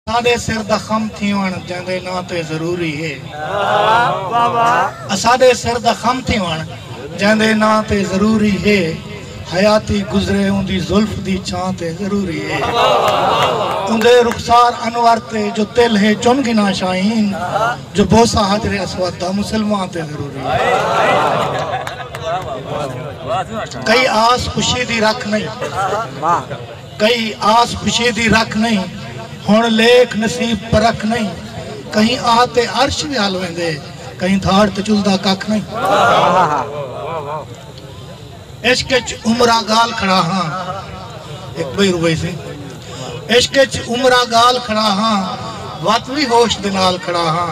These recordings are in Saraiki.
اساݙے سر دا خم تھیوݨ جیندے ناں تے ضروری ہے۔ اساݙے سر دا خم تھیوݨ جیندے ناں تے ضروری ہے۔ حیاتی گزرے اوندی زلف دی چھاں تے ضروری ہے۔ اوندے رخسار انور تے جو تل ہے چن گھناں شاہین جو بوسہ حجر اسود دا مسلماں تے ضروری ہے۔ کئی آس خوشی دی رکھ نئیں۔ کئی آس خوشی دی رکھ نئیں ہݨ لیکھ نصیب پرکھ نئیں کہیں آہ تے عرش ویال ویندے کہیں دھاڑ تے چلدا ککھ نئیں عشق اچ عمراں گال کھڑا ہاں ہک بئی روئی سی عشق اچ عمراں گال کھڑا ہاں وت وی ہوش دے نال کھڑا ہاں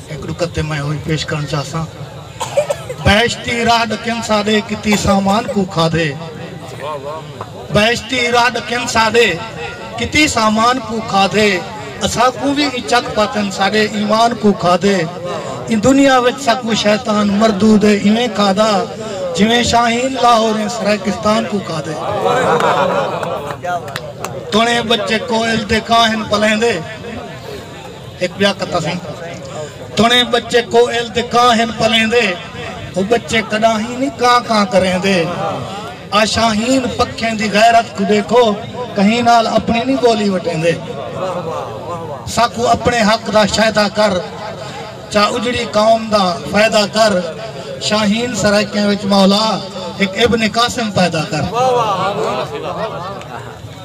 ہک نکت تے میں ہوئی پیش کرݨ چاہساں۔ بہشتی راہ ݙکھن ساݙے کیتی سامان کوں کھادھے۔ بہشتی راہ ݙکھن ساݙے کیتی سامان کوں کھادھے۔ اساکوں وی ایں چک پاتن ساݙے ایمان کوں کھادھے۔ ایں دنیا وچ ساکوں شیطان مردود ایویں کھادا جیویں شاہین لاہوریں سرائیکستان کوں کھادھے۔ تݨیں ٻچے کوئل دے کاہن پلیندے۔ ایک بیا کتا سی تنے بچے کو ایل دے کان ہن پلیں دے وہ بچے کڑا ہی نہیں کان کان کریں دے آشاہین پکھیں دی غیرت کو دیکھو کہیں نال اپنی نہیں بولی وٹیں دے ساکو اپنے حق دا شایدہ کر چا اجڑی قوم دا فائدہ کر شاہین سرائکیں وچ مولا ایک ابن قاسم پیدا کر